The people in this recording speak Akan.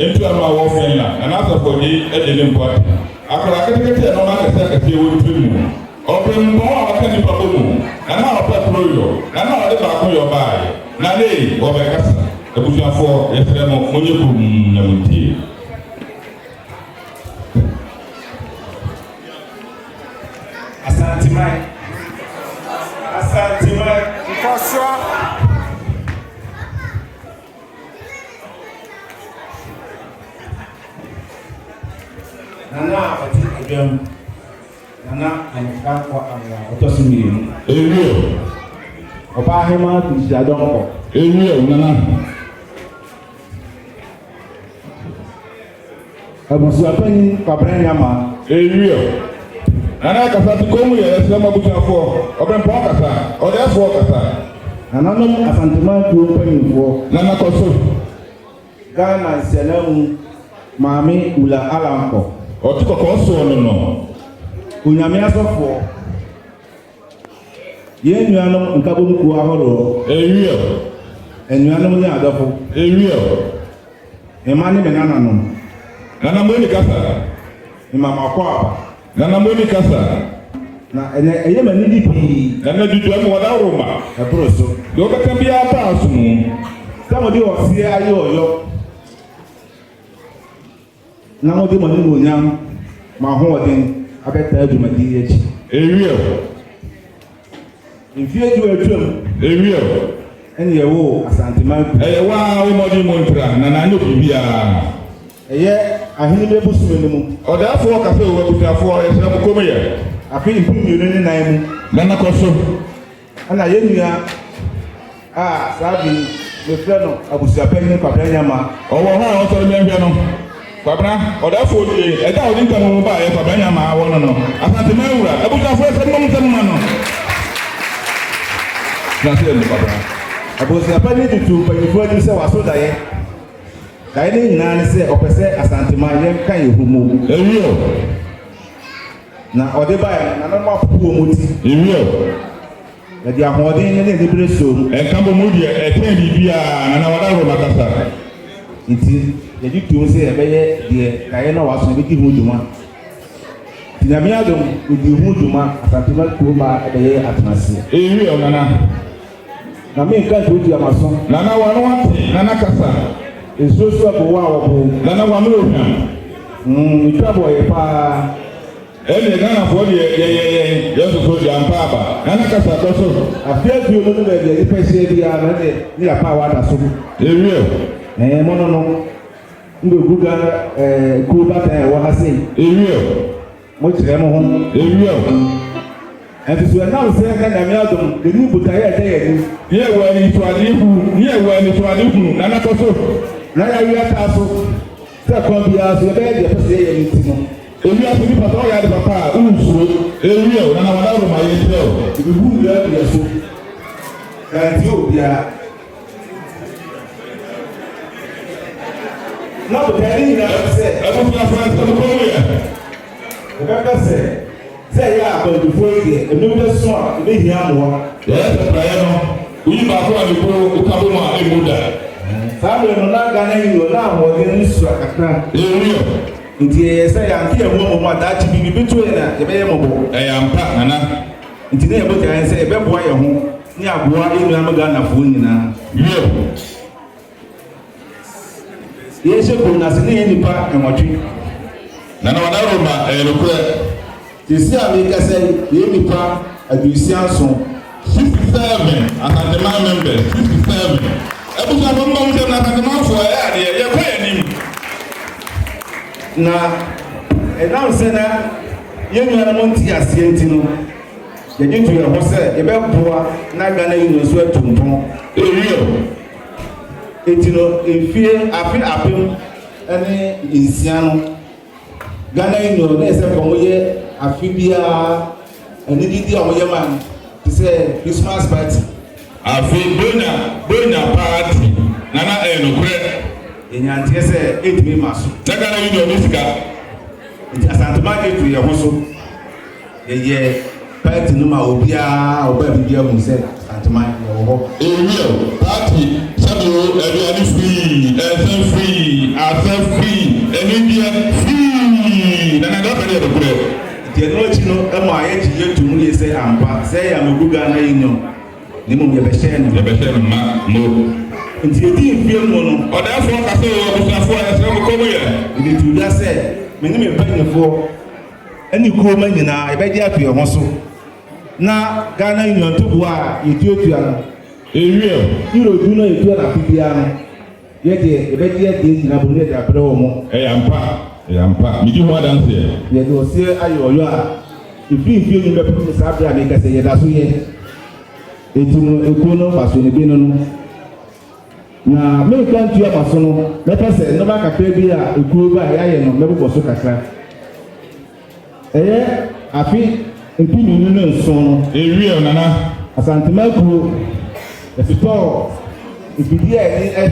Ntua no a wɔ Finland na n'asafodzi gye no mpo atse. Akwadaa ketseketse yɛ nɔɔma akɛse akɛse a ɔwɔ ne tsirmu no. Ɔpɛ mpɔn a ɔka nyimpa bɔ mu, na nna ɔpɛ kor yɔ, na nna ɔdze baako yɔ baayɛ. Na nna ei, wɔbɛkasa. Ebusuafoɔ, yɛserɛ mo, monyɛ komm na muntsie. Asanteman, Asanteman. Nkɔsoɔ. Nana a ɔte Adwam, Nana Anne Dankwa Amoah, ɔtɔ so mmienu. Ewio. Ɔbaa Hemaa Kunhyia Donkor. Ewio, Nana. Abusuapanyin Kwabena Nyama. Ariel, Nana kasa te kɔn mu yɛ ɛsrɛ mo abusuafoɔ, Ɔbɛnpɔn kasa, Ɔdɛɛfoɔ kasa. Nananom Asanteman kuo mpanyinfoɔ. Nana kɔ so. Ghana Nsiananmu Maame Ula Alankɔ. Ɔte kɔkɔɔ soɔ no no. Onyame Asɔfoɔ. Yɛn nuanom nkabom kuo ahoroɔ. Awiɛw. Anuanom ne adɔfo. Awiɛw. Me mma ne me nananom. Nana Moni kasa. Me ma makɔ aba. Nana Moni kasa. Na ɛnɛ ɛyɛ me anigye pii. Ɛnɛ duduam wɔ dawuroma. Ɛboro so. Deɛ wobɛka biara ba aso mu. Sɛ mode ɔseɛ aye ɔyɔ. Na mode mo animuonyam, mo ahoɔden, abɛtaa dwumadi yi akyi. Ewiɛ o. Mfie du atwam. Ewiɛ o. Ɛne ɛwo o, Asanteman kurom. Ɛyɛ wo ara wo mmɔden mu ntra, na na anyɛ biribiara. Ɛyɛ ahene bɛ bosome no mu. Ɔdaafoɔ ka sɛ o abusuafoɔ, yɛsrɛ mo kommyɛ. Afe mpem mmienu ne nan mu. Na na kɔ so. Ɛna yɛn nua a saa bere yi yɛfrɛ no abusuapanyin Kwabena Nyama. Ɔwɔ hɔ a ɔsɔre mɛhwɛ no. Kwabena, ɔda afuo due, ɛda a ɔde ntamu mu baeɛ Kwabena Nyama awɔ no no, Asanteman wura, abusuafoɔ sɛ mom nsɛ moma no tena ase ɛnde Kwabena. Abusuapanyin de too mpanyinfoɔ anim sɛ waso daeɛ. Daeɛ no nyinaa ne sɛ ɔpɛ sɛ Asanteman yɛnka yɛn ho mmom. Ɛwuo. Na ɔde bae no, nananom apopo wɔn ti. Ewio. Ɛde ahoɔden ne anibere soo mu. Ɛnka bɔ mu deɛ ɛtɛn biribiara, na na wɔda Roma kasa. Nti, yɛgye toom sɛ yɛbɛyɛ deɛ daeɛ no a wɔaso no bɛdi ho dwuma. Nti, Nyame adom, yɛdii ho dwuma, Asantuma kurom a ɛbɛyɛɛ atenaseɛ. Ewio, Nana. Na me nka ntuatua m'aso. Nana w'ano ate, Nana kasa. Nsuo so ɛpo wo a wɔpo. Nana w'ano ohwam. Mm me twa bɔ yɛ paa. Ɛnneɛ Ghanafoɔ deɛ yɛyɛ yɛn, yɛsoso yɛampa aba. Nana kasa kɔ so. Afe aduo mu ne baabi a nnipa ahyia biara no ɛnneɛ ne yɛapaawa ada so. Yɛwie o. Ɛɛ mono no. Mbɛgu Ghana ɛɛ kuo batan a ɛwɔ ha sei. Yɛwie o. Mokyerɛ mo ho ewia o. Ɛnso so ɛnam sɛ na Nyame adom yɛnim botaeɛ a ɛda yɛn anim. Ne yɛwɔ anisoadeɛ hunu. Ne yɛwɔ anisoadeɛ hunu na na kɔ so. Na yareɛ ataa so. Sɛ kwan biara so yɛbɛyɛ deɛ ɛpɛ sɛ yɛyɛ no nti no. Ewia so nipa sɛ ɔyɛ ade papa a wonsuro. Ewia o na na wɔn aworo ma yɛn kyɛ o. Yɛbɛhunu yɛn aduɛ so. Yɛantie obiara. na botae no nyinaa ne sɛ abusuafo asɛm kɔ mu yɛ. Wɔbɛka sɛ, sɛ ɛyɛ a akwantufoɔ yi deɛ, ɛno bɛ so a, ɛbɛhia mmoa. Yɛyɛ sɛ praeɛ no, woyi baako a ne kunu ka bɔ mu a ɛmmu da. Saa berɛ no, na Ghana yi wɔ n'ahoɔden no sua kakra. Ɛwuo. Nti ɛyɛ sɛ yɛante yɛn ho ammɔ mu a, daakye biribi bɛto yɛn a, yɛbɛyɛ mmɔbɔ. Ɛyɛ ampa, Nana. Nti na yɛn botae ne sɛ yɛbɛboa yɛn ho. Ne aboa enua no Ghanafoɔ nyinaa. Yɛw. Yɛn hyɛ kurom no ase ne yɛn nipa nwɔtwe. Nana Wana Roma ɛyɛ nokorɛ. Seesei a meekasa yi yɛn nipa aduosia nson. Sixty seven Asanteman members sixty seven. Abusuafoɔ momma mo nsam na Asantemanfoɔ ɛyɛ adeɛ yɛkɔ yɛn anim. Na ɛnam sɛ na yɛn nuanom nte aseɛ nti no. Yɛgye to yɛn ho sɛ yɛbɛboa na Ghana Union nso atu mpɔn. Ewiem eti no, mfie afe apem ne nsia no, Ghana Union na ɛsɛ nka wɔyɛ afe biara anididi a wɔyɛ ma no te sɛ Christmas party. Afei Bonya Bonya party na na ɛyɛ nokorɛ. Yɛnya nteɛ sɛ ɛntumi mma so. Na Ghana Union nni sika. Nti Asantema gye to yɛn ho so. Yɛyɛ party no ma obiara a ɔbaa biribi ahu sɛ Asantema yɛwɔ hɔ. Ewiɛ o, party sɛdeɛ o, aduane free, nsa free, asa free, anigyeɛ free, na na ɛda sɛdeɛ nokorɛ. Nti ɛno akyi no ɛmaa yɛgye yɛ to mu yie sɛ ampa sɛ yɛ amegu Ghana yi no na mmom yɛbɛhyɛ no. Yɛbɛhyɛ no ma mo. Nti yɛdi mfeɛ mu no. Ɔdaafoɔ ka sɛ o, abusuafoɔ yɛsrɛ mo kɔm yɛ. Yɛde too dwa sɛ me ne me mpanimfoɔ. ne kuro mma nyinaa yɛbɛgye ato yɛn ho so na Ghana Union ntoboa a yɛtuatua no, Euro, Euro du no a yɛtua no afe biara no, yɛ deɛ yɛbɛgye adi agyina mu na yɛde abrɛ wɔn. Ɛyɛ ampa, ɛyɛ ampa. Medi ho adanseɛ. Yɛde ɔseɛ ayɛ ɔyɔ a ɛfiri mfeɛ nnum bɛpem ne saa berɛ a merekasa yi, yɛda so yɛ. Enti no, ɛkuo no mfasoɔ no, bi ne no. Na menkwa ntua ma so no, mɛpɛ sɛ nneɛma kakra bi a ekuo ba a yɛayɛ no mɛbobɔ so kakra. Ɛyɛ afe mpem mmienu ne nson no. Ariel Nana. Asantema kuo, yɛtotɔɔ mfidie a ɛne